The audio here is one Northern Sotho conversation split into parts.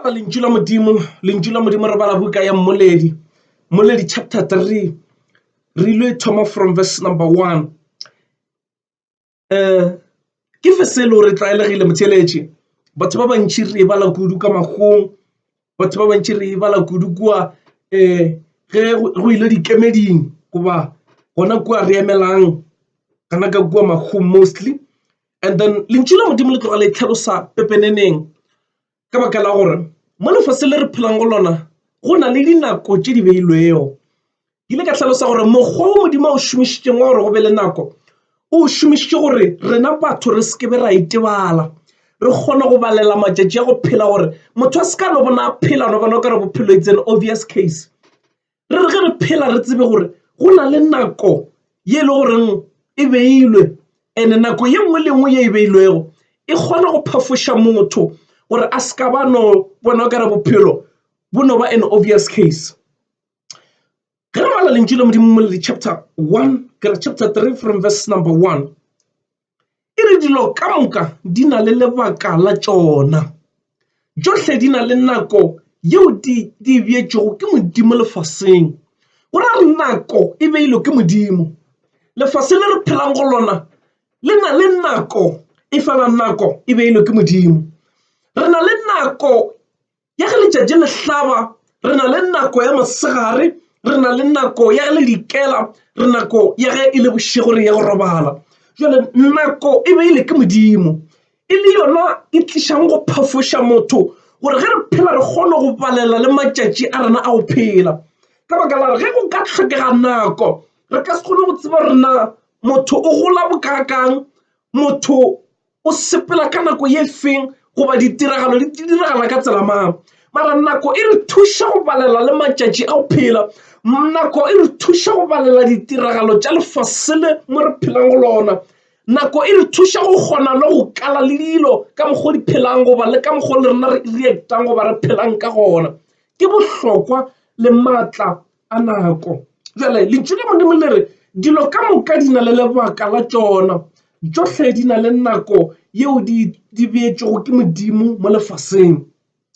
bala lentšu la modimo lentšu la modimo re bala buka ya mmoledi mmoledi chapter 3 re ile thoma from verse number 1 um ke verse e le gore tlwaelegile motheletše batho ba bantšhi re e bala kudu ka magong batho ba bantšhi re e bala kudu kua um ge go ile dikemeding goba gona kua re emelang kana ka kua magong mostly And then lentšu la Modimo le tloga le tlhalosa pepeneneng ka baka la gore mo lefase le re phelang go lona go na le dinako tše di beilwego. Ke ile ka hlalosa gore mokgwa o Modimo o šomišitšeng wa gore go be le nako o šomišitše gore rena batho re se ke be ra itebala re kgone go balela matšatši a go phela gore motho a se ka no bona phela no bona o ka re bophelo itseng obvious case. re re ge re phela re tsebe gore go na le nako ye e le goreng e beilwe ene nako ye nngwe le nngwe ye e beilwego e kgona go phafoša motho gore a se ka ba no bona o kare bophelo bo no ba an obvious case ge re bala lentšu le modimo mo le di-chapter one kere chapter three from verse number one E re dilo ka moka di na le lebaka la tšona. Tšohle di na le nako yeo di di beetšwego ke Modimo lefaseng. Go ra gore nako e beilwe ke Modimo. Lefase le re phelang go lona le na le nako, efela nako e beilwe ke Modimo. Re na le nako ya ge letšatši le hlaba re na le nako ya mosegare re na le nako ya ge le dikela re nako ya ge e le bošego re ya go robala jale nako e be e le ke modimo e le yona e tlišang go phafoša motho gore ge re phela re kgone go balela le matšatši a rena a go phela ka baka la re ge go ka tlhokega nako re ka se kgone go tseba rena motho o gola bokaakang motho o sepela ka nako ye feng goba ditiragalo di diragala ka tsela mang mara nako e re thuša go balela le matšatši a go phela nako e re thuša go balela ditiragalo tša lefasele mo re phelang go lona nako e re thuša go kgona le go kala le dilo ka mokgwa di phelang goba le ka mokgwa le rena re reactang goba re phelang ka gona ke bohlokwa le maatla a nako. Bjale lentšu le Modimo le re dilo ka moka di na le lebaka la tšona, tšohle di na le nako yeo di di beetšwego ke Modimo mo lefaseng.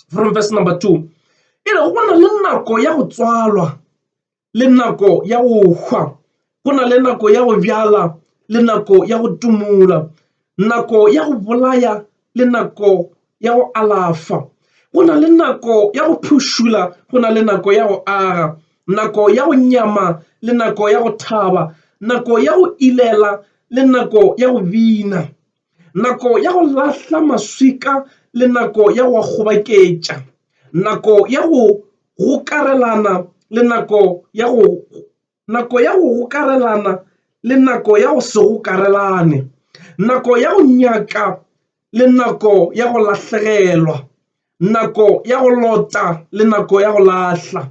From verse number two e re go na le nako ya go tswalwa le nako ya go hwa Go na le nako ya go bjala le nako ya go tumola, nako ya go bolaya le nako ya go alafa. Go na le nako ya go phušula, go na le nako ya go aga, nako ya go nyama le nako ya go thaba, nako ya go ilela le nako ya go bina, nako ya go lahla maswika le nako ya go a kgobaketša, nako ya go gokarelana le nako ya go Nako ya go gokarelana le nako ya go se gokarelane. Nako ya go nyaka le nako ya go lahlegelwa. Nako ya go lota le nako ya go lahla.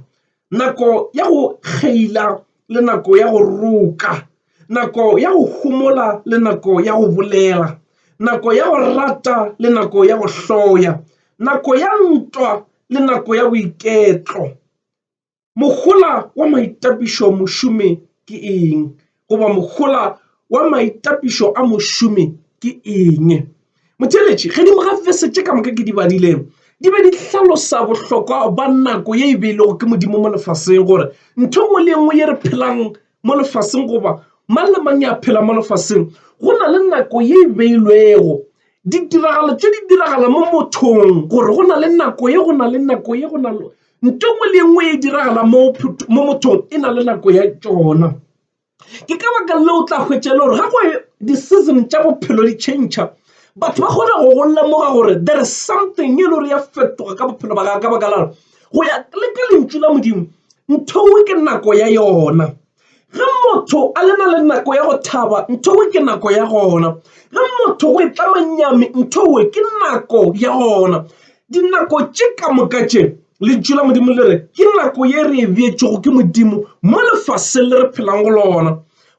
Nako ya go kgeila le nako ya go roka. Nako ya go homola le nako ya go bolela. Nako ya go rata le nako ya go hloya. Nako ya ntwa le nako ya boiketlo. Mohola wa maitapišo a mošomi ke eng? goba Mohola wa maitapišo a mošomi ke eng? Motheeletši, gedimo ga fese tše ka moka ke di badile, di be di hlalosa bohlokwa ba nako ye e beilego ke Modimo mo lefaseng, gore ntho nngwe le nngwe ye re phelang mo lefaseng goba mang le mang ya phela mo lefaseng go na le nako ye e beilwego. Ditiragalo tše di diragala mo mothong gore go na le nako ye, go na le nako ye, go na le. nto ngwe le ngwe e diragala mo mothong e na le nako ya tšona ke ka baka le o tla hwetša le gore ga go di-season tša bophelo di change batho ba kgona go go lemoga gore there is something e le gore ya fetoga ka bophelo ba gago ka baka la go ya le ka lentšu la modimo ntho ngwe ke nako ya yona Ge motho a le na le nako ya go thaba, nthowe ke nako ya gona. Ge motho go itlama nyami, nthowe ke nako ya gona. Dinako tše ka moka tše lentšu la modimo le re ke nako ye re e beetšego ke modimo mo lefaseng le re phelang go lona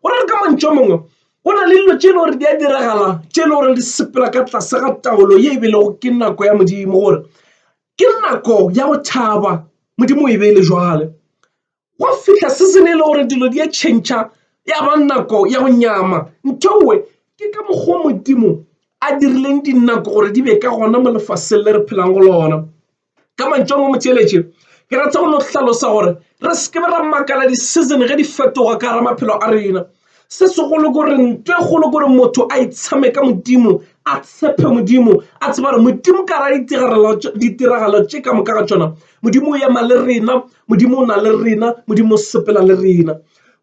gore re ka mantšu a mangwe go na le dilo tše e le gore di a diragala tše e le gore di sepela ka tlase ga taolo ye e belego ke nako ya modimo gore ke nako ya go thaba modimo e beele jwale Gwa fihla season e le gore dilo di a tšhentšha ya ba nako ya go nyama ntho nngwe ke ka mokgwa modimo a dirileng dinako gore di be ka gona mo lefaseng le re phelang go lona ka mantšong a motšeletše ke rata go no hlalosa gore re se ke ra makala di-season ge di fetoga ka gara maphelo a rena se segolo gore nto e golo gore motho a itshame ka modimo a tshepe modimo a tseba gore modimo ka ra ditiragalo tše ka moka ga tšona modimo o ema le rena modimo o na le rena modimo o sepela le rena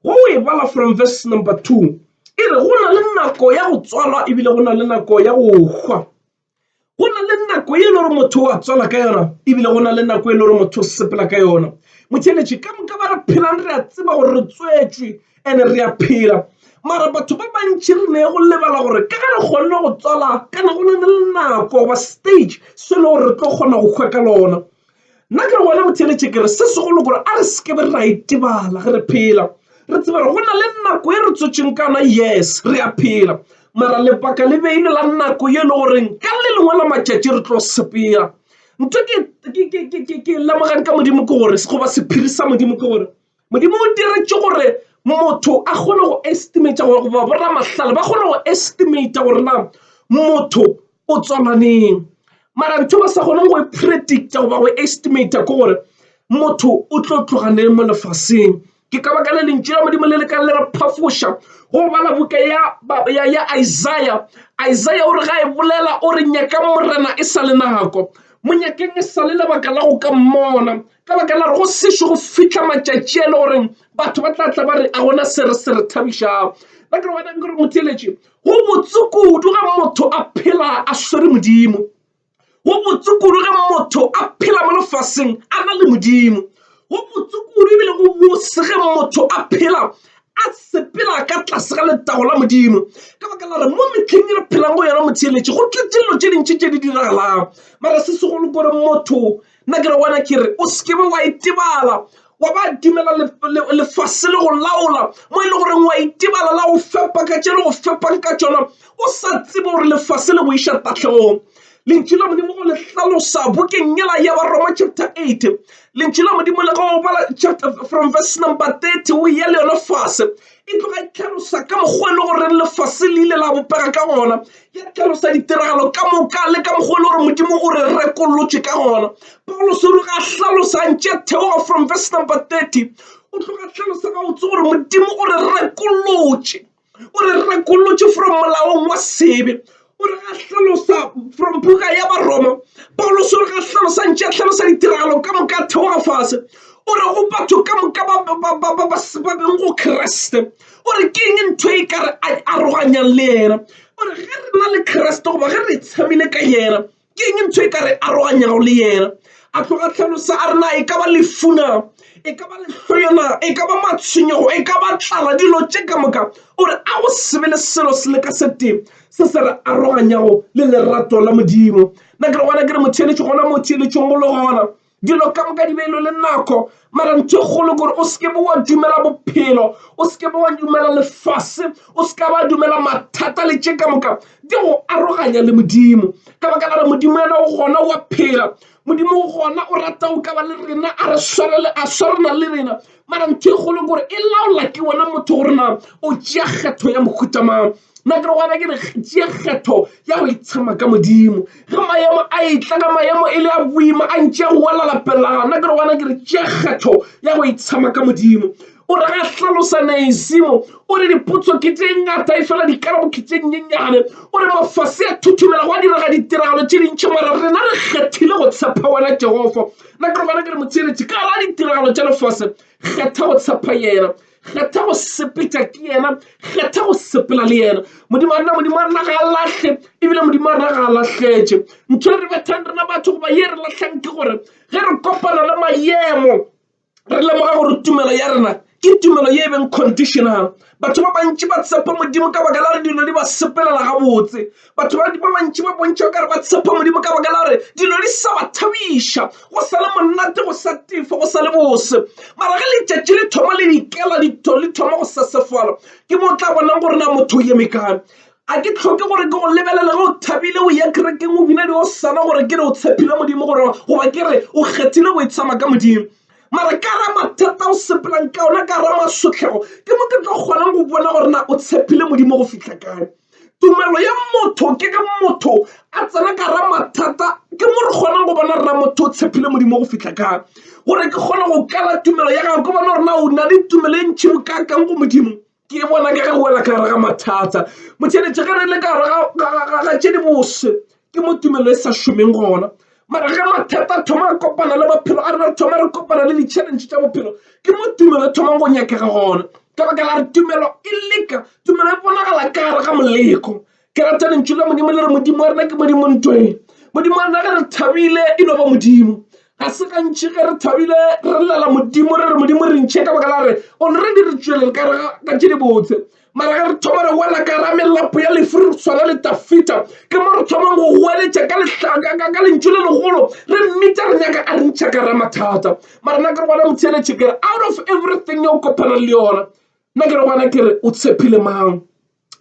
go e bala from verse number two e re go na le nako ya go tswalwa ebile go na le nako ya go hwa go na le nako e le gore motho wa tswala ka yona ebile go na le nako e le gore motho o sepela ka yona motheletše ka moka ba re phelang re a tseba gore re tswetswe and re a phela mara batho ba bantši re ne go lebala gore ka ge re kgonne go tswala kana go na le nako goba stage se e le gore re tlo kgona go hwa ka lona nna ke re gona go theeletše ke re se segolo gore a re seke be ra itebala ge re phela re tseba gore go na le nako e re tswetšeng ka yona yes re a phela mara lebaka le beile la nako ye e le goreng ka le lengwe la matšatši re tlo sepela ntho ke lemogang ka modimo ke gore goba sephiri sa modimo ke gore Modimo o diretše gore motho a kgone go estimator gore goba bo ramahlale ba kgone go estimator gore na motho o tswalwa neng mara ntho ba sa kgoneng go e predicta goba go estimator ke gore motho o tlo tloga neng mo lefaseng ke ka baka le lentšu la modimo le le ka le re phafoša go bala buka ya isaiah isaiah o re ga e bolela o re nyakang morena e sa le nako mo nyakeng e sa le lebaka la go ka mmona ka baka la go sešo go fihla matšatši a le gore batho ba tla tla ba re a gona se re se re thabišago ba ke wena gore motheletše go botse kudu ga motho a phela a swere modimo go botse kudu ga motho a phela mo lefaseng a na le modimo go botse kudu ebile go bose ge motho a phela a sepela ka tlase ga letago la modimo ka baka la re mo metlheng e re phelang go yona motheletše go tletse dilo tše dintši tše di diragalang mara se segolo gore motho nna ke re wena ke re o sekebe wa itebala wa ba dumela lefase le go laola mo e le goreng wa itebala la go fepa ka tše le go fepang ka tšona o sa tsebe gore lefase le go iša tahlegong lentšu la modimo go le hlalosa bokeng yela ya baroma chapter 8 lentšu la modimo le go bala chapter from verse number 30 o ya le yona fase e tloga e hlalosa ka mokgwa e le gore lefase le ile la bopega ka gona ya hlalosa ditiragalo ka moka le ka mokgwa e le gore modimo o re rekolotše ka gona paulos o tloga a hlalosa ntše theoga from verse number 30 o tloga a hlalosa ga botse gore modimo o re rekolotše o re rekolotše from molaong wa sebe o re ga hlalosa from buka ya baroma paulos o re ga hlalosa ntše a hlalosa ditiragalo ka moka theoga fase o re go batho ka moka ba beng go kreste o re ke eng ntho e ka re aroganyang le yena o re ge re na le kreste goba ge re tshamile ka yena ke eng ntho e ka re aroganyago le yena a tloga tlhalosa a rena e ka ba lefuna e ka ba lehloyona e ka ba matshwenyego e ka ba tlala dilo tše ka moka o re a go sebe le selo se le ka sete se se re aroganyago le lerato la modimo nna ke re gona ke re motheeletšo gona motheeletšong golo gona Dilo ka moka di beilwe le nako, mara ntho e kgolo gore o seke bo wa dumela bophelo, o seke bo wa dumela lefase, o seka ba dumela mathata le tše ka moka di go aroganya le Modimo. Ka baka la re Modimo yena o gona wa phela, Modimo o gona o rata o ka ba le rena, a re swarele, a swarana le rena mara ntho e kgolo gore e laola ke wena motho gore na o tšea kgetho ya mohuta mang nna ke re gona ke re tšea kgetho ya go itshema ka modimo ge maemo a etla ka maemo e le a boima a ntše a go wela lapelelana nna ke re gona ke re tšea kgetho ya go itshema ka modimo o re ga hlalosa naesimo o re dipotso ke tše ngata e fela dikarabo ke tše nyenyane o re mafase a thuthumela go a direga ditiragalo tše dintšhi mara rena re kgethile go tshepa wena jehova Nna ke re gona ke re motheeletši ka ra ditiragalo tša lefase, kgetha go tshepa yena, kgetha go sepetša ke yena, kgetha go sepela le yena. Modimo a rena, Modimo a rena ga a lahle, ebile Modimo a rena ga a lahletše. Ntho e re bethang rena batho goba ye re lahlang ke gore ge re kopana le mayemo re lemoga gore tumelo ya rena Ke tumelo ye e beng conditional. Batho ba bantši ba tshepa Modimo ka baka la re dilo di ba sepelela gabotse. Batho ba ba bantši ba bontšha ka re ba tshepa Modimo ka baka la re dilo di sa ba thabiša, go sa le monate, go sa tefo, go sa le bose. Mara ge letšatši le thoma le dikela di thoma go sesefala, ke mo o tla bonang gore na motho o eme kae. A ke tlhoke gore ke go lebelele ge o thabile o ya kerekeng o bina diosana gore ke re o tshepile Modimo goba ke re o kgethile go itshaba ka Modimo. mara ka ra mathata o sepelang ka ona ka ra masotlhego ke mo ke tlo kgonang go bona gore na o tshepile modimo go fitlha kae tumelo ya motho ke ge motho a tsena ka ra mathata ke mo re kgonang go bona rena motho o tshepile modimo go fitlha kae gore ke kgone go kala tumelo ya gago ke bona gore na o na le tumelo e ntšhi bokakang go modimo ke bona ka ge go wela ka gare ga mathata motšheletše ge re le ka gare ga tše di bose ke mo tumelo e sa šomeng gona mara ge mathata a thoma a kopana le bophelo a re thoma re kopana le di-challenge tša bophelo ke mo tumelo e thomang go nyakega gona ka baka la re tumelo e leka tumelo e bonagala ka gare ga moleko Ke rata lentšu la Modimo le re Modimo wa rena ke Modimo ntweng. Modimo wa rena ge re thabile e no ba Modimo. Ga se gantši ge re thabile re llela Modimo re re Modimo re ntšhe ka baka la re already re tšwelele ka re ka tše dibotse mara ge re thoma re wela ka ra melapo ya lefu re tshwana le tafita ke mo re thomang go goeletša ka lehlaka ka lentšu le legolo re mmitsa re nyaka a re ntšha ka ra mathata mara nna ke re gona motheletše ke re out of everything yo kopana le yona nna ke re gona ke re o tshepile mang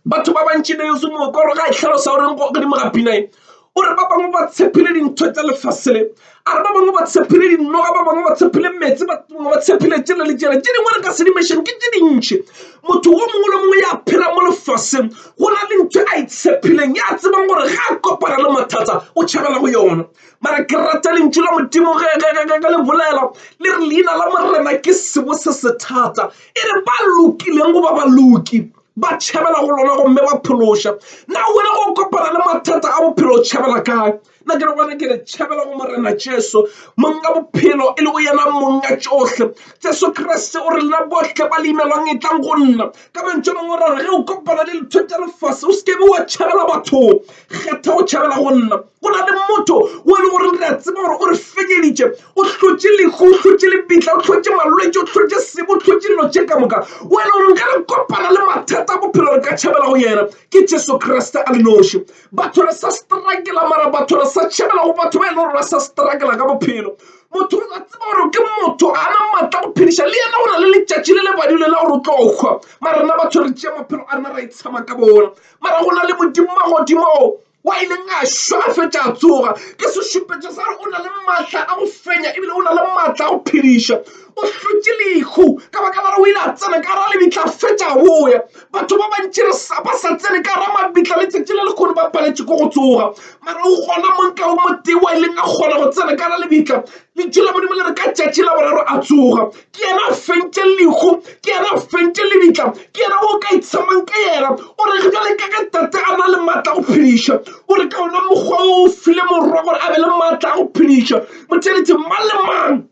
batho ba bantši ne yeso mooko gore ga e tlhalosa goreng go godimo ga pina e o re ba bangwe ba tshephile dintho tsa lefase le a re ba bangwe ba tshephile dinoga ba bangwe ba tshephile metsi ba bangwe ba tshephile tsela le tsela tse dingwe re ka sedimešeng ke tse dintši motho wo mongwe le mongwe ya phela mo lefaseng go na le ntho a e tshephileng ya tsebang gore ga a kopana le mathata o tšhabela go yona mara ke rata lentšu la modimo ge le bolela le re leina la morena ke sebo se se thata e re ba lokileng go ba ba loki ba tšhabela go lona gomme ba phološa na wena go kopana le mathata a bophelo o tšhabela kae na ke re gona ke re tšhabela go morena jesu monga bophelo e le go yena monga tšohle jesu kriste o re lena bohle ba le imelwang e tlang go nna ka mantšo mangwe o ra re ge o kopana le lethotša lefase o se kebe wa tšhabela bathong kgetha go tšhabela go nna go na le motho o e le gore re a tseba gore o re fenyeditše o hlotše lehu o hlotše lebitla o hlotše malwetse o hlotše sebo o hlotše dilo tše ka moka o e le gore nka re kopana le mathata a bophelo re ka tšhabela go yena ke jesu kriste a le noši batho re sa strakela mara batho re sa tšhabela go batho ba e le gore ba sa strakela ka bophelo motho o a tseba gore ke motho ga na maatla go phediša le yena o na le letšatši le lebadile la gore o tlo kgwa mara rena batho re tšea maphelo a rena ra e tshama ka bona mara go na le modimo magodimo wa ileng a šwa a fetša a tsoga ke sešupetšo sa gore o na le maatla a go fenya ebile o na le maatla a go phediša o hlotše lehu ka baka la gore o ile a tsena ka ra lebitla a fetša a boya batho ba bantši re sa ba sa tsene ka ra mabitla letšatši le lekgono ba paletše ko go tsoga mara o gona monka o motee wa ileng a kgona go tsena ka ra lebitla letšo la modimo le re ka tšatši la boraro a tsoga ke yena a fentše lehu ke yena a fentše lebitla ke yena o ka itshamang ka yena o re ge jale ka ge tate a na le maatla a go phediša o re ka ona mokgwa o o file morwa gore a be le maatla a go phediša motšheletše mang le mang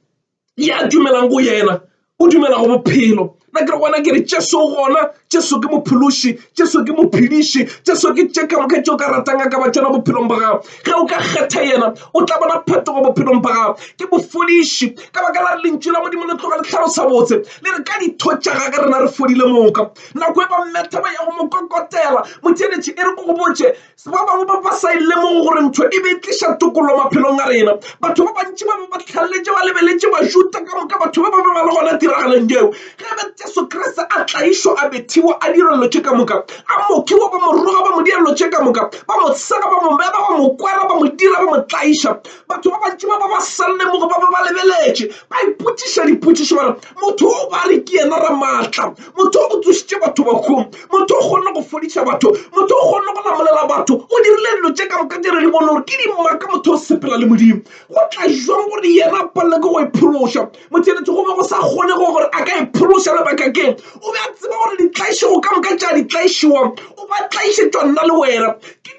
ya dumelang go yena o dumela go bophelo nna ke re gona ke re tšeso gona tšeso ke mophološi Jesu ke mophediši, Jesu ke tše ka moka tšeo ka ratang a ka ba tšona bophelong ba gago. Ge o ka kgetha yena, o tla bona phetogo bophelong ba gago. Ke mofodiši ka baka la re lentšu la Modimo le tloga le tlhalosa botse le re ka ditho tša gage rena re fodile moka. Nako e ba mmetha ba ya go mo kokotela, motheeletši e re o go botše Se ba bangwe ba ba sa e lemogo gore ntho e be e tliša tokolo maphelong a rena. Batho ba bantši ba be ba tlhalletše ba lebeletše Bajuda ka moka, batho ba ba be ba le gona tiragalong yeo. Ge be Jesu Kriste a tlaišwa, a bethiwa, a dira dilo tše ka moka, a mokiwa, ba mo roga, ba mo dira dilo tše ka moka, ba mo sega, ba mo beba, ba mo kwara, ba mo dira, ba mo tlaiša. Batho ba bantši ba ba ba sa lemoge ba be ba lebeletše, ba ipotšiša dipotšišo ba re, motho o ba re ke yena re maatla motho o tsošitše batho bakgong motho o kgonne go fodiša batho motho o kgonne go lamolela batho o dirile dilo tše ka moka tše re di bone gore ke dimaka motho o sepela le modimo go tla jwang gore yena a palele ke go e phološa motšheletše go be go sa kgone go gore a ka e phološa lebaka keng o be a tseba gore ditlaiše go ka moka tša ditlaišewang o ba tlaišetšwa nna le wena ke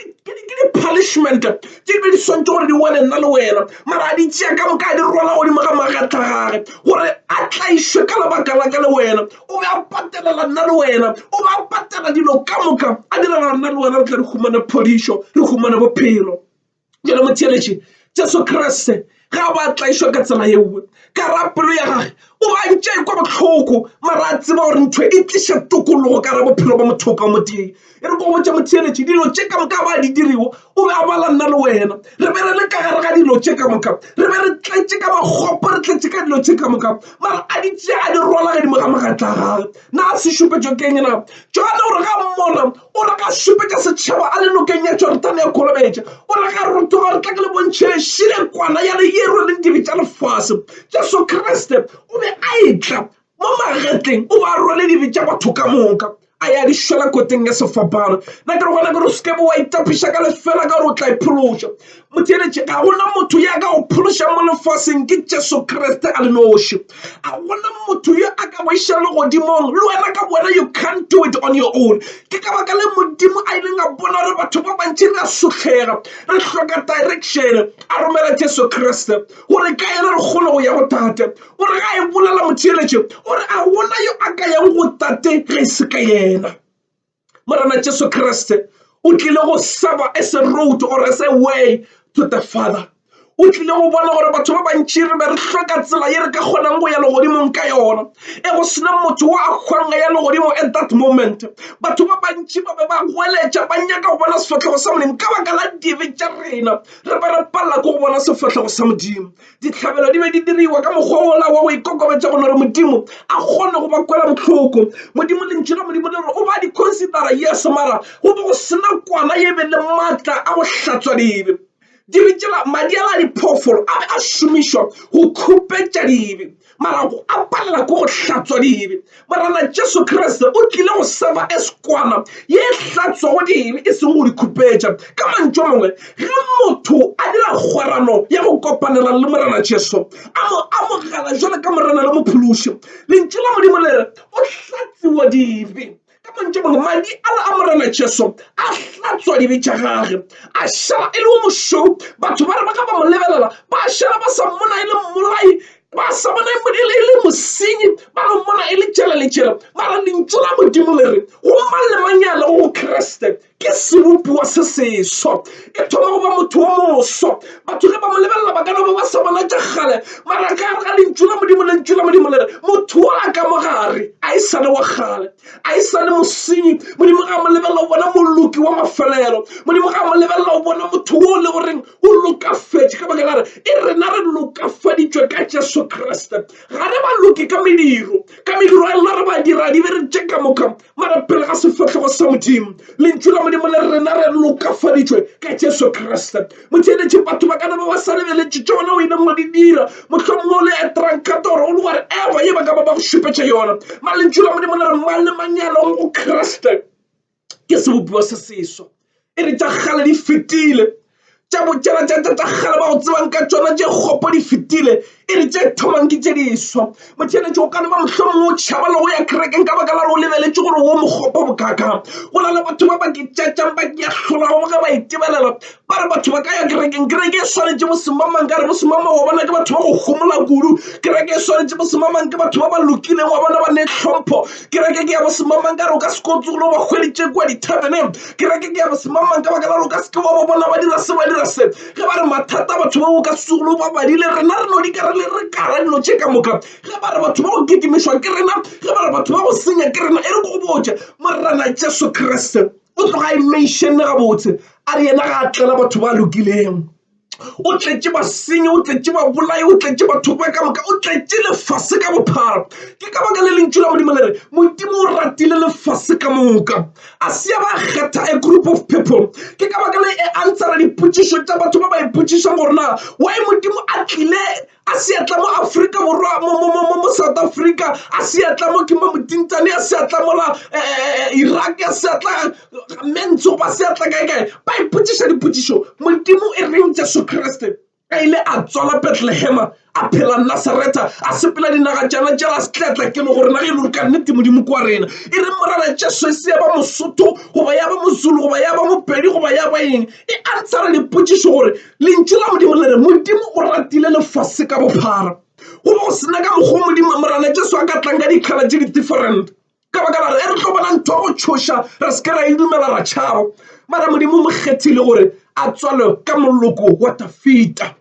di-punishment tše di be di swantšwe gore di wele nna le wena mara a di tšea ka moka a di rwala godimo ga magatla gage gore a tlaišwe ka lebaka la ka le wena o be a patelela nna le wena o be a patela dilo ka moka a direla nna le wena re tla re humane phodišo re humane bophelo jale motheletše jesu kriste Ge a be a tlaišwa ka tsela yeo, ka ra pelo ya gage o be a ntše a ikwa bohloko, mara a tseba gore ntho e tliša tokologo ka ra bophelo bja motho o ka mo tee. E re ke go botša motheeletši dilo tše ka moka ba di dirigo, o be a bala nna le wena. Re be re le ka gare ga dilo tše ka moka, re be re tletše ka makgopo, re tletše ka dilo tše ka moka, mara a di tšea a di rwala godimo ga magetla a gagwe. Na a se šupetšo ke'ng na? Johane o re ga mmona, O re ga šupetša setšhaba a le nokeng ya Jorodane ya Kholobetša. O re ga rotoga re tla ke le bontšhe šire kwana ya le ye rweleng dibe tša lefase. Jesu Kriste o be a etla mo magetleng o ba rwele dibe tša batho ka moka a ya di šwela koteng ya sefapano. Na ke re gona ke re o se ke be wa itapiša ka lefela ka gore o tla iphološa. mo theeletše ga gona motho ya ka go phološa mo lefaseng ke jesu kriste a le noši ga gona motho yo a ka go iša le godimong le wena ka wena you can't do it on your own ke ka baka le modimo a ileng a bona gore batho ba bantši re a sutlhega re hloka direction a romela jesu kriste gore ka ena re kgone go ya go tate o re ga e bolela motheeletše o re a gona yo a ka yang go tate ge e se ka yena Morena Jesu Kriste o tlile go saba as a road or as a way to the Father. o tlile go bona gore batho ba bantši re be re hloka tsela ye re ka kgonang go ya legodimong ka yona e go sena motho wa a kgwanga ya legodimo at that moment batho ba bantši ba be ba goeletša ba nyaka go bona sefatlhego sa modimo ka baka la dibe tša rena re be re palela ko go bona sefatlhego sa modimo Dihlabelo di be di diriwa ka mokgwa wola wa go ikokobetša go lore Modimo a kgone go ba kwela bohloko. Modimo, Lentšu la Modimo le re o ba di considera, yes, mara go be go sena kwana ye be le matla a go hlatswa dibe. Dibe tšela, madi ala a diphoofolo a be a šomišwa go khupetša dibe. mara go a palela ko go hlatswa dibe morana jesu kriste o tlile go seba eswana ye e hlatswago dibe e seng go di khupetša ka mantšo mongwe ge motho a dira kgwerano ya go kopanela le morana jesu a mo amogela jalo ka morana le mophološi lentšu la modimo le re o hlatsiwa dibe Ka mantšu a mangwe, madi ala a Morena Jesu a hlatswa dibe tša gage, a šala e le wo mošweu. Batho ba re ba ga ba mo lebelela, ba šala ba sa mmona e le mmolai, ba sa bona e le e le mosenyi, ba no mmona e le tšela le tšela. Mara lentšu la Modimo le re go mang le mang ya lego go Kriste ke sebopiwa se seswa e thoma go ba motho wa moswa batho ge ba mo lebelela ba ka no ba ba sa bona tša kgale mara ka gare ga lentšu la modimo lentšu la modimo le re motho o a ka mo gare a e sane wa kgale a e sane mosenyi modimo ga mo lebelela o bona moloki wa mafelelo modimo ga mo lebelela o bona motho wo le goreng o lokafetše ka baka la re e rena re lokafaditšwe ka jesu kriste ga re ba loke ka mediro ka mediro ya lona re ba dira di be re tše ka moka Mara pele ga sefahlogo sa Modimo, Lentšu la Modimo le re rena re lokafaditšwe ka Jesu Kriste. Motheeletše, batho ba ka na ba ba sa lebeletše tše wena o ileng wa di dira, mohlomongwe o le etrankato gore o le whatever ye ba ka ba ba go šupetša yona. Mara Lentšu la Modimo le re mang le mang ya lego go Kriste ke sebopiwa se seswa. e re tša kgale di fetile tša botšela tša tša kgale ba go tsebang ka tšona tše kgopo di fetile e re tše thomang ke tše diswa motšheletše o ka no ba mohlomongwe o tšhaba le go ya kerekeng ka baka la re o lebeletše gore wo mokgopo bokaka go na le batho ba ba ke tšatšang ba ke ahlolago ge ba itebelela ba re batho ba ka ya kerekeng kereke e swanetše bosemamang ka re bosemamang wa bona ke batho ba go homola kudu kereke e swanetše bosemamang ke batho ba ba lokileng wa bona ba ne hlompho Kereke ke ya bosemamang ka gore o ka se ke wa tsoga o ba hweditše kua di-tarven-eng. Kereke ke ya bosemamang ka baka la gore o ka se ke wa ba bona ba dira se, ba dira se. Ge ba re mathata a batho bao o ka se tsoge o ba badile. Rena re no di ka re le re kala dilo tše ka moka. Ge ba re batho ba go kitimišwa ke rena, ge ba re batho ba go senya ke rena. E re ke go botše, Morena Jesu Kriste o tloga a e mention-ne gabotse a re yena ga a tlela batho ba lokilego. o tletše basenyi o tletše babolai o tletše batho ba ka moka o tletše lefase ka bophara ke ka baka le lentšu la modimo le re modimo o ratile lefase ka moka a se ba kgetha a group of people ke ka baka le e ansara dipotšišo tša batho ba ba ipotšišang gore na wy modimo a tlile a seatla mo Afrika Borwa mo mo mo mo South Africa a seatla mo ke mo motintane a seatla mo la eh, eh, eh, Iraq a seatla mentso ba seatla kae kae ba ipotšiša dipotšišo modimo e reng Jesu Kriste a ile a tswala Bethlehema a phela Nazareta a sepela dinaga tšana tšela a setletla ke le gore nage e le gore ka nnete modimo kwa rena e re morana Jesu e se ya ba mosotho goba ya ba mozulu goba ya ba mopedi goba ya ba eng e antshara dipotšišo gore Lentšu la Modimo le re Modimo o ratile lefase ka bophara go bo sena ka mokgwa Modimo Morena Jesu a ka tlang ka dikgala tše di-different ka baka la re e re tlo bona ntho go tšhoša re se ke ra e dumela ra tšhaba mara Modimo mo kgethile gore a tswalo ka moloko wa Dafita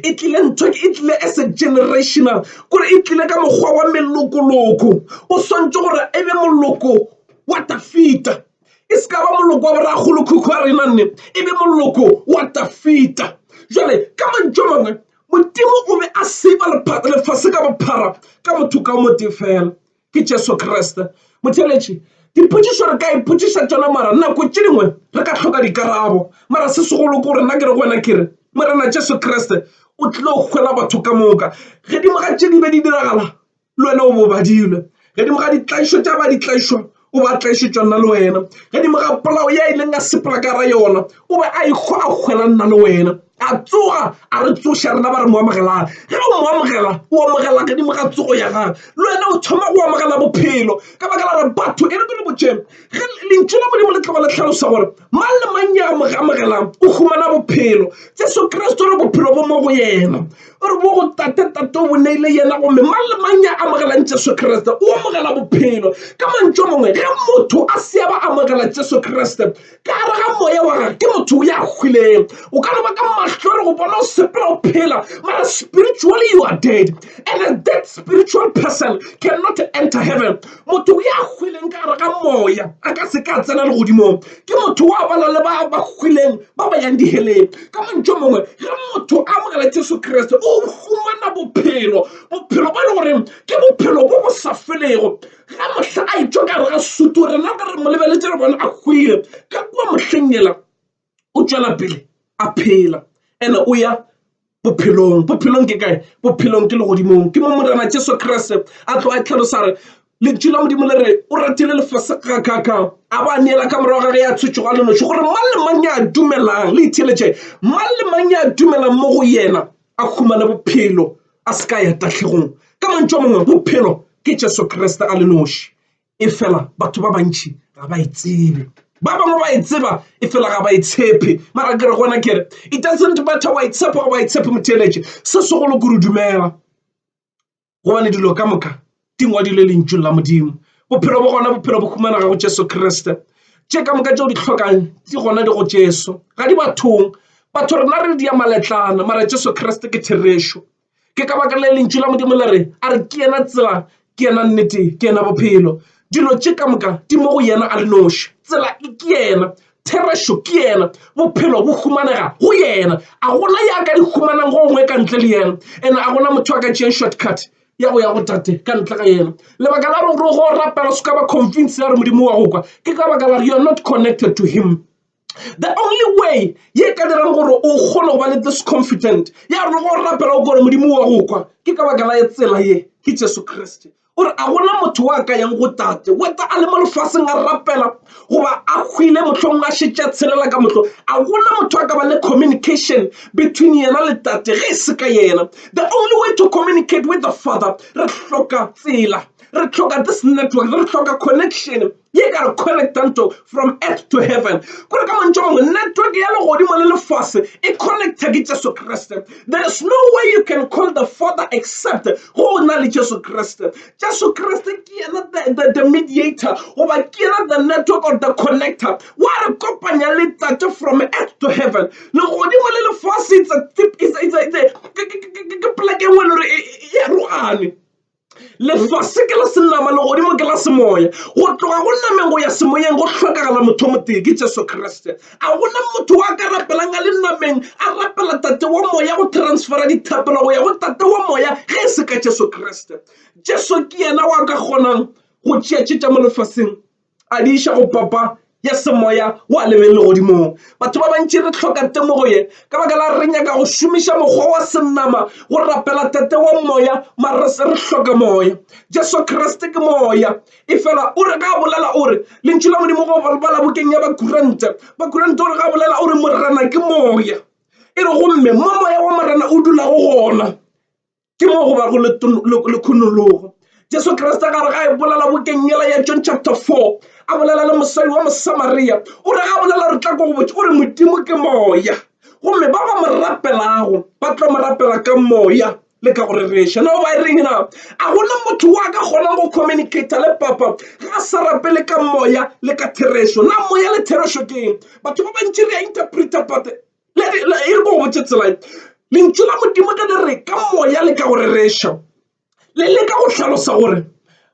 e tlile ntho e tlile as a generational gore e tlile ka mokgwa wa melokoloko o swantše gore e be moloko wa Dafita. e se ka ba moloko wa borakgolo khukhu a rena nne e be moloko wa tafita jale ka mantšu a mangwe modimo o be a seba lefase ka bophara ka motho ka o motee fela ke jesu kriste motheletši dipotšišo re ka ipotšiša tšona mara nako tše dingwe re ka hloka dikarabo mara se segolo ke gore nna ke re go wena ke re morena jesu kriste o tlile go kgwela batho ka moka ge dingwaga tše di be di diragala le wena o bo badile gedimo ga ditlaišo tša ba ditlaišwa o ba tlaišetšwa nna le wena gedimo ga polao ya e leng a sepela ka ra yona o be a ikgo a kgwela nna le wena a tsoga a re tsoša rena ba re mo amogelang ge o mo amogela o amogela gedimo ga tsogo ya gage le wena o thoma go amogela bophelo ka baka la gore batho e re ke le botšeng ge lentšu la modimo le tlogo le tlhalosa gore mang le mang ya mo amogelang o humana bophelo jesu kriste re bophelo bo mo go yena o re mo go tate tate o boneile yena gomme mang le mang ya amogelang jesu kriste o amogela bophelo ka mantšo mongwe ge motho a se ba amogela jesu kriste ka gare ga moya wa gage ke motho o ya hwileng o ka no ba ka mahlo re go bona o sepela o phela mara spiritually you are dead and a dead spiritual person cannot enter heaven Motho ya hwileng ka gare ga moya a ka se ka tsena legodimong. Ke motho wa bana le ba ba hwileng ba ba yang diheleng. Ka mantšu a mangwe, ge motho a amogela Jesu Kriste o humana bophelo, bophelo bo e le goreng ke bophelo bo bo sa felego. Ge mohla a etšwa ka gare ga sutu, rena re re mo lebeletše re bona a hwile ka kua mohleng yela. o tšwela pele a phela ene o ya bophelong bophelong ke kae bophelong ke legodimong ke mo morena jesu kriste a tlo a tlhalosa re lentšu la modimo le re o ratile lefase kakaka a ba neela ka morago ga ge ya tshwetso ga lenoši gore mang le mang ya dumelang le itheletše mang le mang ya dumelang mo go yena a humane bophelo a se ka ya tahlegong ka mantšu a mangwe bophelo ke jesu kriste a lenoši efela batho ba bantši ga ba e tsebe ba bangwe ba e tseba e fela ga ba e tshepe mara ke re gona kere it doesn't matter wa e tshepa wa e tshepe motheeletše se segolo kore dumela gobane dilo ka moka di ngwadilwe lentšung la modimo bophelo bo gona bophelo bo humanega go jesu kriste tše ka moka tšeo di hlokang di gona di go jesu ga di bathong batho rena re di ya maletlana mara jesu kriste ke therešo ke ka baka la lentšu la modimo le re a re ke yena tsela ke yena nnete ke yena bophelo dilo tše ka moka di mo go yena a le noši tsela e ke yena therešo ke yena bophelo bo humanega go yena a gona ya ka di humanang go gongwe ka ntle le yena ene a gona motho a ka tšeeng shortcut ya go ya go tate ka ntle ga yena lebaka la gore go rapela se ka ba convince ya re modimo wa go kwa ke ka baka la re you are not connected to him The only way ye ka dirang gore o kgone go ba le this confident ya gore go rapela o gore modimo wa go kwa ke ka baka la tsela ye ke jesu kriste o re a gona motho wa ka yang go tate weta a le mo lefaseng a rapela goba a hwile mohlong a šetša tshelela ka mohlong a gona motho a ka ba le communication between yena le tate ge e se ka yena the only way to communicate with the father re hloka tsela re hloka this network re hloka connection ye ka re connectanto from earth to heaven kore ka mantšho mangwe network ya legodimo le lefase e connecta ke jesu kriste there is no way you can call the father except go o na le jesu kriste jesu kriste ke yena the, the, the mediator goba ke yena the network or the connector wa re kopanya le tate from earth to heaven legodimo le lefase ke poleke e nngwe le gore e, e, e, e arogane lefase ke la senama legodimo ke la semoya go tloga go nameng go ya semoyeng go hlokagala motho o motee ke jesu kriste a gona motho wa ka rapelang a le nameng a rapela tate wa moya go transfera dithapelo go ya go tate wa moya ge e se ka jesu kriste jesu ke yena wa ka kgonang go tšeatšetša mo lefaseng a di iša go papa ya semoya wa lebeng legodimong batho ba bantši re tlhoka temogo ye ka baka la re nyaka go šomiša mokgwa wa senama go rapela tate wa moya mare re hloka moya jesu kriste ke moya e fela o re ga bolela o re lentšu la modimo go ba la bokeng ya bakurante bakurante o re ga bolela o re morena ke moya e re gomme mo moya wa morena o dulago gona ke mo go bago le khunologo jesu kriste gare ga e bolela bokengela ya john chapter 4 a bolela le mosadi wa mosamaria o re ga a bolela re tla ko go botse o re modimo ke moya gomme ba ba mo rapelago ba tlo mo rapela ka moya le ka go rereša no ba e reng na a gona motho wa ka kgonang go communicata le papa ga a sa rapele ka moya le ka therešo na moya le therešo keng batho ba bantši re a interpreta pate e re ke go botše tsela ye lentšu la Modimo ge le re ka moya le ka go rereša le leka go hlalosa gore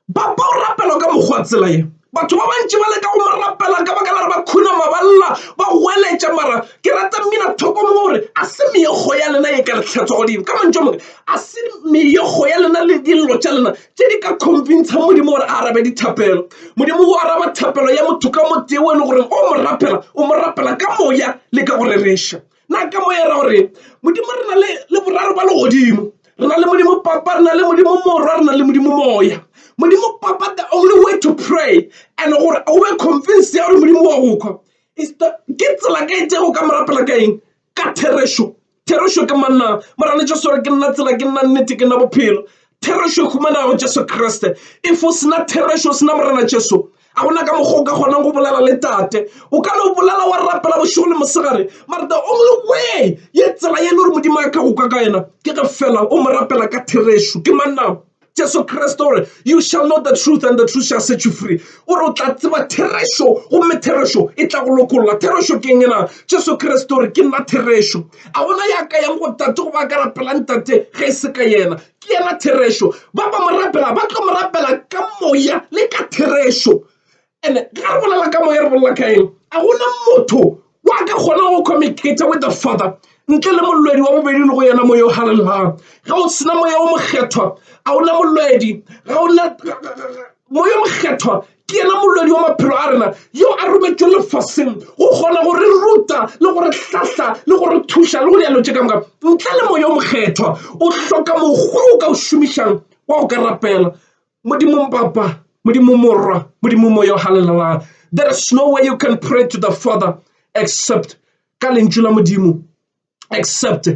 ba ba o rapela ka mokgwa tsela ye batho ba bantši ba leka go mo rapela ka baka la re ba khunama ba lla ba goeletša mara ke rata mmina thoko mo gore a se meokgo ya lena e ka le tlhetswa godimo ka mantšu a mang a se meokgo ya lena le dillo tša lena. tše di ka convincang modimo gore a arabe dithapelo modimo o araba thapelo ya motho ka motee o e le gore o mo rapela o mo rapela ka moya le ka go rereša na ka moya ra gore modimo re na le le boraro ba legodimo re na le modimo papa re na le modimo morwa re na le modimo moya modimo papa the only way to pray and gore o be convince ya gore modimo wa go kgwa ke tsela ka e tšego ka mo rapela ka eng Ka therešo, therešo ke manna. Morena Jesu o re, Ke nna tsela, ke nna nnete, ke nna bophelo. Therešo e humanegago go Jesu Kriste. If o sena therešo, o sena Morena Jesu, ga gona ka mokgwa o ka kgonang go bolela le Tate. O ka no bolela wa rapela bošego le mosegare, mara the only way ye tsela ye e le gore Modimo a ka go kwa ka yena ke ge fela o mo rapela ka therešo. Ke manna. jesu kriste o re you shall know the truth and the truth shall set you free o re o tla tseba therešo gomme therešo e tla go lokolola therešo ke eng na jesu kriste o re ke nna therešo a gona ya ka yang go tate go ba ka rapelang tate ge e se ka yena ke yena therešo ba ba mo rapela ba tlo mo rapela ka moya le ka therešo And ga re bolela ka moya re bolela ka eng a gona motho wa ka kgona go communicate with the father ntle le molwedi wa bobedi le go yena moya o halalelang ga o sena moya o mokgethwa a ona molwedi ga ona moya mokgethwa ke yena molwedi wa maphelo a rena yo a rometšwe lefaseng go kgona go re ruta le go re hlahla le go re thuša le go dialo tše ka moka ntle le moya o mokgethwa o hloka mokgwa o ka o šomišang wa go ka rapela Modimo Papa, Modimo Morwa, Modimo Moyo, hallelujah. There is no way you can pray to the Father except ka lentšu la Modimo, except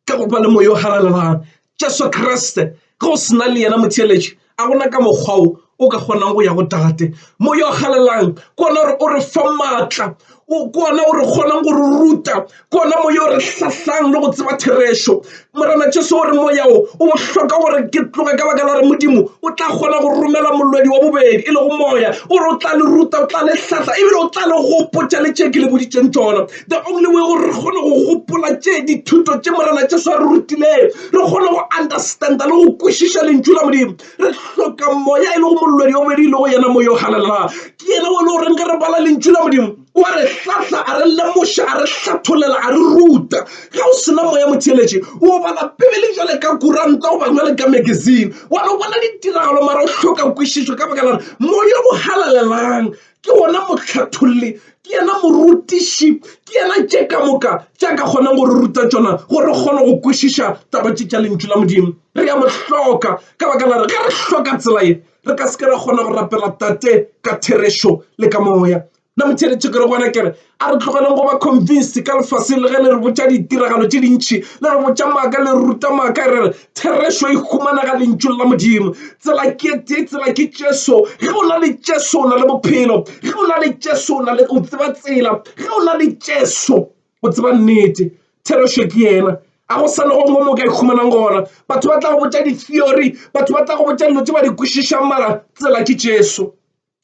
ka go ba le Moyo, hallelujah. Jesu Kriste, ge o sena le yena motheeletši, a gona ka mokgwa o o ka kgonang go ya go tate moya o galelang kona gore o re fa maatla o kona o re kgonang go re ruta kona moya o re hlahlang le go tseba therešo morena jesu o re moyao o bohloka gore ke tloge ka baka la re modimo o tla kgona go romela molwedi wa bobedi e lego moya o re o tla le ruta o tla le hlahla ebile o tla le gopotša le tše ke le boditseng tsona the only way gore re kgone go gopola tše dithuto tše morena jesu a re rutileng re kgone go understanda le go kwešiša lentšu la modimo re hloka moya e lego molwedi wa bobedi e lego yena moya o galelang ke yena o le goreng ge re bala lentšu la modimo wa re hlahla a re lemoša a re hlatholela a re ruta ga o sena moya motheletše o bala pebele jale ka kuranta o bangwe le ka magazine wa no bona ditiragalo mara o hloka kwešišo ka baka lare moya o galalelang ke ona motlhatholli ke yena morutiši ke yena tše ka moka tša ka kgonang gore ruta tšona gore re kgone go kwešiša taba tše tša lentšu la modimo Re a mo hloka ka baka la re ge re hloka tsela ye, re ka se ke ra kgona go rapela Tate ka therešo le ka Moya. Na motheeletše ke re gona ke re, a re tlogeleng go ba convinced ka lefaseng le ge le re botša ditiragalo tše dintši, le re botša maaka, le re ruta maaka, re re therešo e humanega Lentšung la Modimo. Tsela ke e tee, tsela ke Jesu. Ge o na le Jesu o na le bophelo. Ge o na le Jesu o na le, o tseba tsela. Ge o na le Jesu O tseba nnete. Therešo ke yena. A go sa nago mo mo ka ikhumanang gona. Batho ba tla go botša di-theory, batho ba tla go botša dilo tše ba di kwešišang, mara tsela ke Jesu.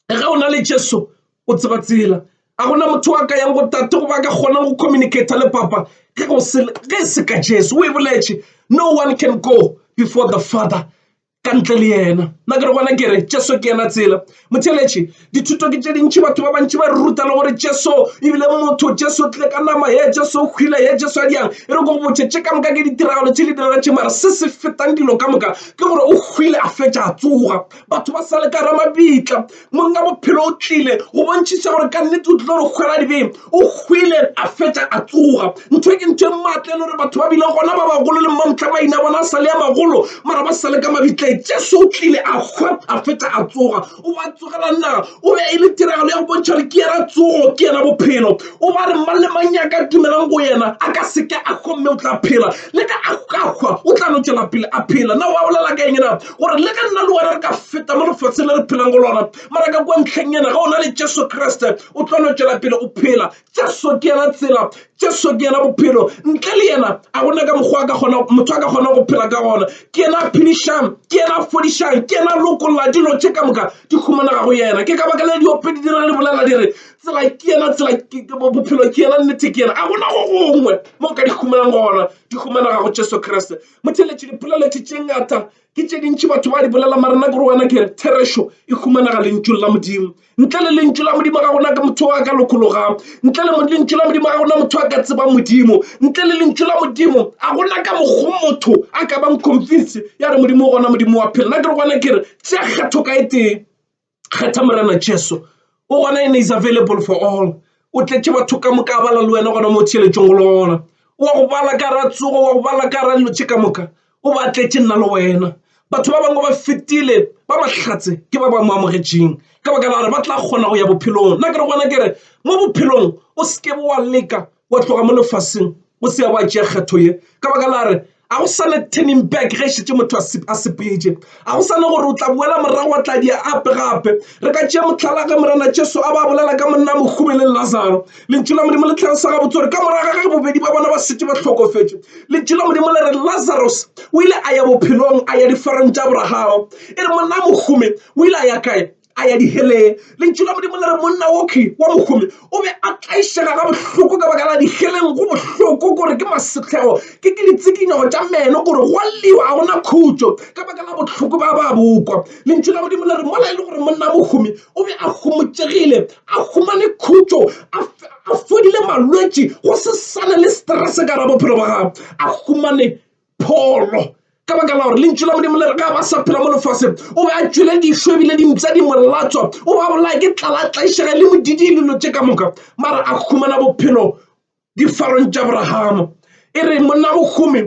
Ge o na le Jesu, o tseba tsela. A go na motho a ka yang go Tate goba a ka kgonang go communicate le Papa ge e se ka Jesu. O e boletše, No one can go before the Father ka ntle le yena nna ke re gona ke re jesu ke yena tsela motheletše dithuto ke tše dintšhi batho ba bantši ba re ruta le gore jesu ebile motho jesu tle ka nama ye jesu o hwile ye jesu a diyang e re ko go botšhe tše ka moka ke ditiragalo tše di diragatše mare se se fetang dilo ka moka ke gore o hwile a fetša a tsoga batho ba sa le ka ra mabitla Monga bophelo o tlile go bontšhisa gore ka nnete o tlilo re hwela dibeng. O hwile a fetša a tsoga. Ntho e ke ntho e maatla e le gore batho ba bile gona ba bagolo le mmamtla maina bona a sale a magolo mara ba sale ka mabitleng. Jesu o tlile a hwa a fetša a tsoga. O ba tsogela naga o be e le tiragalo ya go bontšha gore ke yena tsogo ke yena bophelo. O ba re mang le mang ya ka dumelang go yena a ka seke a hwa mme o tla phela le ka a hwa o tla no tšwela pele a phela. Na wa bolela ka eng na? gore le ka nna le wena re ka feta mo lefatsheng le re phelang go lona mara ka kwa ntlheng ena ga o na le jesu kreste o tlo no tšwela pele o phela jesu ke yena tsela jesu ke yena bophelo ntle le yena a gona ka mokgwa ka gona motho a ka kgona go phela ka gona ke yena a phedišang ke yena a fodišang ke yena a lokolla dilo tše ka moka di humanaga go yena ke ka baka le diope di dira le bolela di re tsela ke yena tsela bophelo ke yena nnete ke yena a gona go gongwe mo ka di humanang gona di humanaga go jesu kreste Motheeletši, Dipoleleti tše ngata ke tše dintši batho ba di bolela, mara nna ke re wena ke re therešo e humanaga Lentšung la Modimo. Ntle le Lentšu la Modimo ga gona ke motho a ka lokologang. Ntle le Lentšu la Modimo ga gona motho a ka tsebang Modimo. Ntle le Lentšu la Modimo a gona ka mokgo motho a ka bang convince ya re Modimo o gona, Modimo wa phela. Nna ke re wena ke re tšea kgatho ka e tee. Kgetha Morena Jesu, o gona ene is available for all. O tletše batho ka moka bala le wena gona mo theeletšong go lona. O wa go bala ka ra tsogo, wa go bala ka ra lotše ka moka. O ba tletše nna le wena. Batho ba bangwe ba fetile ba mahlatse ke ba ba mo amogetšeng ka baka la gore ba tla kgona go ya bophelong. Nna ke re gona ke re mo bophelong o se ke wa leka wa tloga mo lefaseng o se ya wa tšea kgetho ye ka baka la re a go sa le turning back ge šetse motho a sepetše a go sa le gore o tla boela morago wa tla dia ape gape re ka tšea mohlala ge morena jesu a ba bolela ka monna mohume le lazaro lentšu la modimo le tlhalosa ga botse gore ka morago ga ge bobedi ba bona ba setse ba hlokofetše lentšu la modimo le re lazarus o ile a ya bophelong a ya difarong tša abrahama e re monna mohume o ile a ya kae a ya diheleng. Lentšu la Modimo le re monna wokhwi wa mohumi o be a tlaišega ga bohloko ka baka la diheleng. Go bohloko gore ke masehlego, ke ke ditsikinyogo tša meno gore go a lliwa, ga go na khutšo ka baka la bohloko ba ba bo kwa. Lentšu la Modimo le re mola e le gore monna mohumi o be a homotšegile, a humane khutšo, a, a fodile malwetši, go se sane le stress ka gare ga bophelo ba gagwe, a humane pholo. Ka baka la gore lentšu la Modimo le re ga ba sa phela mo lefaseng, o be a tšwele dišo ebile dimpša di molatswa, o ba bolaya ke tlala tlaišega le modidi e lelo tše ka moka, mara a humana bophelo difarong tša Abrahama. E re monna mohumi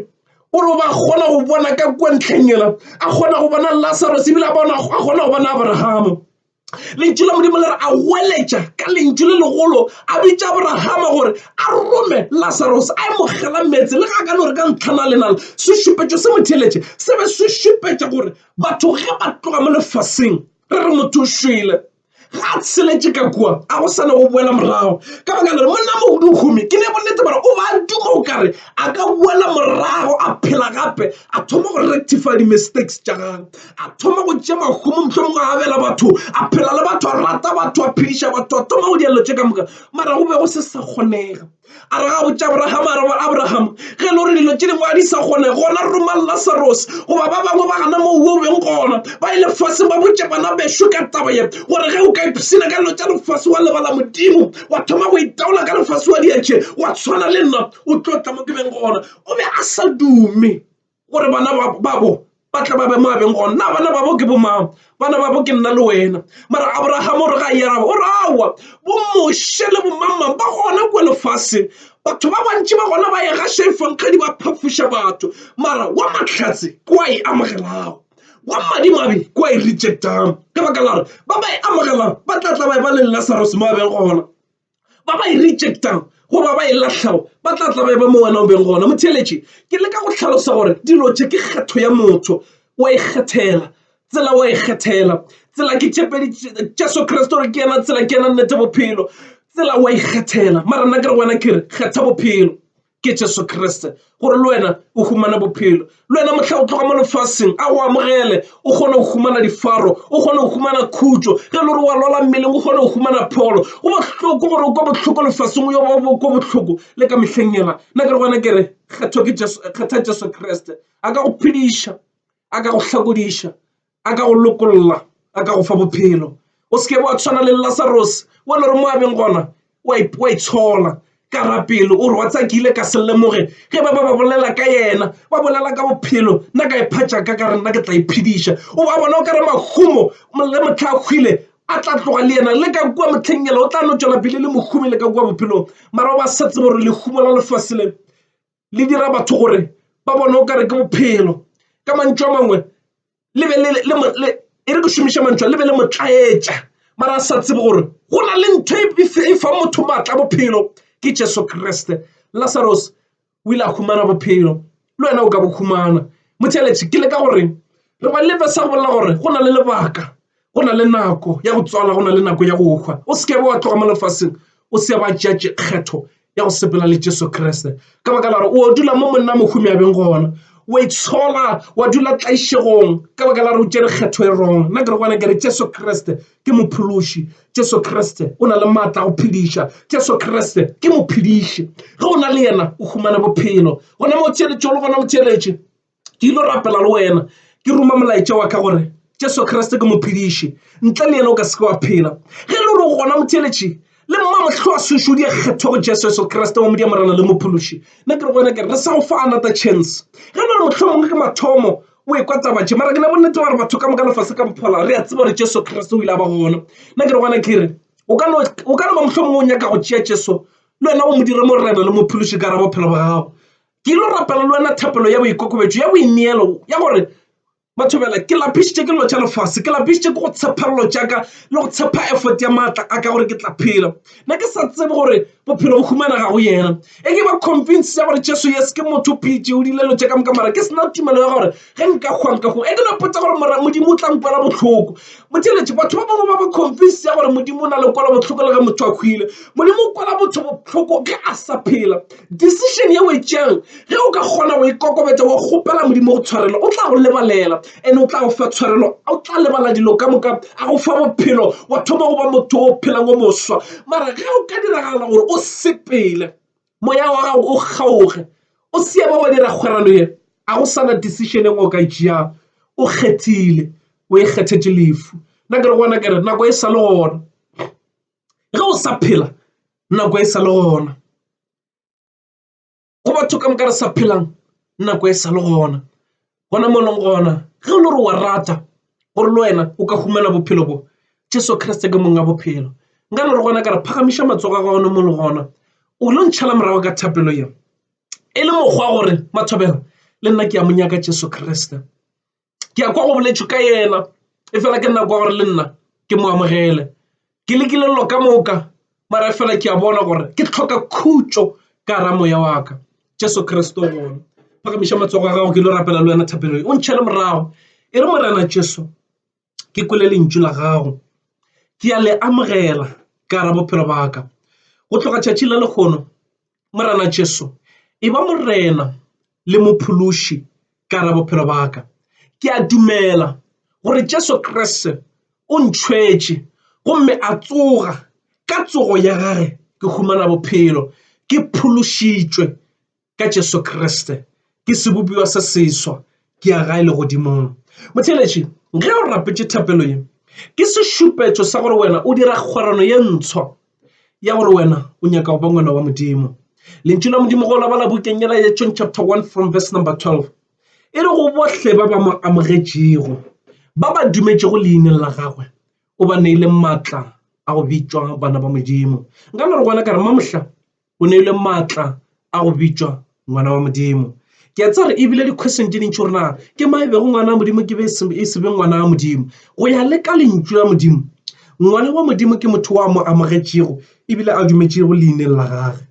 o re ba kgona go bona ka kua ntlheng yela, a kgona go bona Lazarus ebile a kgona go bona Abrahama. Lentšu la Modimo le re a goeletša ka lentšu le legolo a bitša Abrahama gore a rome Lazarus a emogela meetse le ga ka no re ka ntlhana lenalo sešupetšo se motheletše se be se šupetša gore batho ge ba tloga mo lefaseng re re motho o šwele ga a tsheletše ka kua a go sane go boela morago ka baka le monna mohumi ke ne bonnete gore o ba duma o kare a ka boela morago a phela gape a thoma go rectify di-mistakes tša gagwe a thoma go tšea mahumo mohlomongwe a abela batho a phela le batho a rata batho a phediša batho a thoma go dialelo tše ka moka mara go be go se sa kgonega a re ga botša abraham a reba abraham ge e le gore dilo tše dingwe a di sa kgone gona roma lasaros goba ba bangwe ba gana moo o beng gona ba e lefaseng ba botše bana bešo ka taba ye gore ge o ka ipshina ka dilo tša lefase wa lebala modimo wa thoma go itaola ka lefase wa diatšhe wa tshwana le nna o tlo tla mo ke beng gona o be a sa dume gore bana babo ba tla ba be mo abeng gona na bana babo ke bomang bana babo ke nna le wena mara abrahama o re ga yaraba o rawa bomoshe le bomangmang ba gona kua lefaseng batho ba bantši ba gona ba ega šefankgadi ba phafoša batho mara wa mahlatse kua e amogelago wa madimabe kua e rejectang ka baka lare ba ba e amogelang ba tla tla ba e ba le lasarus mo abeng gona ba ba e rejectago goba ba e lahlago ba tla tla ba eba mo wena o beng gona. Motheeletši, ke leka go hlalosa gore dilo tše ke kgetho ya motho. Wa ikgethela tsela, wa ikgethela tsela. Ke tšepedi Jesu Kriste gore ke yena tsela, ke yena nnete, bophelo. Tsela wa ikgethela, mara nna ke re wena ke re kgetha bophelo. ke jesu kriste gore le wena o humana bophelo le wena mohla o tloga mo lefaseng a o amogele o kgone go humana difaro o kgone go humana khutso ge le gore wa lwala mmeleng o kgone go humana pholo go bohloko gore o kwa bohloko lefaseng o yo ba ko bohloko le ka mehleng yela nna ke re gona kere kgetho ke kgetha jesu kriste a ka go phediša a ka go hlakodiša a ka go lokolla a ka go fa bophelo o seke wa tshwana le lasarose wa le gore mo abeng gona wa itshola ka rapelo o re wa tsakile ka se lemoge ge ba ba ba bolela ka yena ba bolela ka bophelo nna ka iphatša ka ka re nna ke tla iphediša o ba bona o ka re mahumo le motlha a hwile a tla tloga le yena le ka kua motlheng yela o tla no tšwela pele le mohumi le ka kua bophelong mara o ba sa tsebo gore lehumo la lefase le le dira batho gore ba bone o kare ke bophelo ka mantšu a mangwe le be e re ke šomiša mantšu le be le motlaetša mara sa tsebe gore go na le ntho e fa motho maatla bophelo ke jesu kriste lasaros o ile a humana bophelo le wena o ka bo humana motheletše ke le ka goreng re ba lebe sa go bolela gore go na le lebaka go na le nako ya go tswala go na le nako ya go hwa o se ke wa tloga mo lefaseng o se ba tšea kgetho ya go sepela le jesu kriste ka baka la gore o dula mo monna mohumi a beng gona wa itshola wa dula tlaišegong ka baka la gore o tšere kgetho e rong nna ke re gona ke re jesu kriste ke mophološi jesu kriste o na le maatla go phediša jesu kriste ke mophediši ge o na le yena o humana bophelo gona mo o theeletše o le gona o theeletše ke ilo rapela le wena ke ruma molaetša wa ka gore Jesu Kriste ke mophediši ntle le yena o ka seke wa phela ge le gore gona motheletše le mma mohlwa sešo di kgetho go Jesu Jesu Kriste wa modimo morena le mophološi nna ke re go wena ke re sa go fa another chance ge le gore mohlwa mongwe ke mathomo o e kwa taba tše mara ke ne bonnete ba gore batho ka moka lefase ka bophola re a tseba gore Jesu Kriste o ile a ba gona nna ke re gona ke re o ka no ba mohlwa mongwe o nyaka go tšea Jesu le wena o mo dire morena le mophološi ka ra bophelo ba gago Ke ilo rapela le wena thapelo ya boikokobetšo, ya boineelo, ya gore, Batho bjale, ke lapišitše ke dilo tša lefase, ke lapišitše ke go tshepa dilo tša ka le go tshepa effort ya maatla a ka gore ke tla phela. Ne ke sa tsebe gore bophelo bo humanega go Yena. E ke ba convinced ya gore Jesu, yes, ke motho, o pheditše, o dirile dilo tše ka moka, mara ke se na tumelo ya gore Ge nka hwa nka hwa e ke no potsa gore mora Modimo o tla nkwela bohloko botheletše batho ba bangwe ba ba confuse ya gore Modimo o na le kwela bohloko le ge motho a hwile Modimo o kwela motho bohloko ge a sa phela decision ye o e tšeang ge o ka kgona go ikokobetsa wa kgopela Modimo go tshwarelo o tla go lebalela and o tla go fa tshwarelo o tla lebala dilo ka moka a go fa bophelo wa thoma go ba motho o phelang o moswa mara ge o ka diragala gore o sepele Moya wa gago o kgaoge, o se ke wa dira kgwerano ye. A go sa na decision engwe o ka e tšeago? O kgethile, o e kgethetše lefu. Nna ke re gona ke re nako e sa le gona, ge o sa phela nako e sa le gona, go batho ka moka re sa phelang nako e sa le gona. gona mo leng gona ge o le gore wa rata gore le wena o ka humana bophelo bo jesu kriste ke mong a bophelo nka no re gona ka re phagamiša matsogo a gagone mo le gona o lo ntšhala morago ka thapelo yeo e le mokgwa gore mathobela le nna ke a mo nyaka jesu kriste ke ya kwa go boletšwe ka yena e fela ke nna kwa gore le nna ke mo amogele ke lekile lelo ka moka mara fela ke a bona gore ke tlhoka khutšo ka ra moya wa ka jesu kriste gona phagamiša matsogo a gago ke lo rapela le wena thapelo o ntšhele morago e re morena jesu ke kwele lentšu la gago ke a le amogela ka ra bophelo ba ka go tloga tšatši la lekgono Morena Jesu, e ba Morena le Mophološi ka ra bophelo ba ka. Ke a dumela gore Jesu Kriste o ntšhwetše gomme a tsoga ka tsogo ya gage ke humana bophelo ke phološitšwe ka Jesu Kriste ke sebopiwa se seswa ke ya gae legodimong motheletši ge o rapetše thapelo ye ke sešupetšo sa gore wena o dira kgwerano ye ntshwa ya gore wena o nyaka go ba ngwana wa modimo lentšu la modimo go labala bukeng yela ya john chapter 1 from verse number 12 e re go bohle ba ba mo amogetšego ba ba dumetšego leineng la gagwe o ba neile maatla a go bitšwa bana ba modimo nka no re gona ka re mamohla O neilwe maatla a go bitšwa ngwana wa Modimo. Ke a tseba gore e bile di-question tše dintši gore na ke ma e bego ngwana wa Modimo ke be e se be ngwana wa Modimo. Go ya le ka lentšu la Modimo, ngwana wa Modimo ke motho wa mo amogetšego e bile a dumetšego leineng la gage.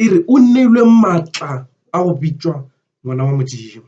E re o neilwe maatla a go bitšwa ngwana wa Modimo.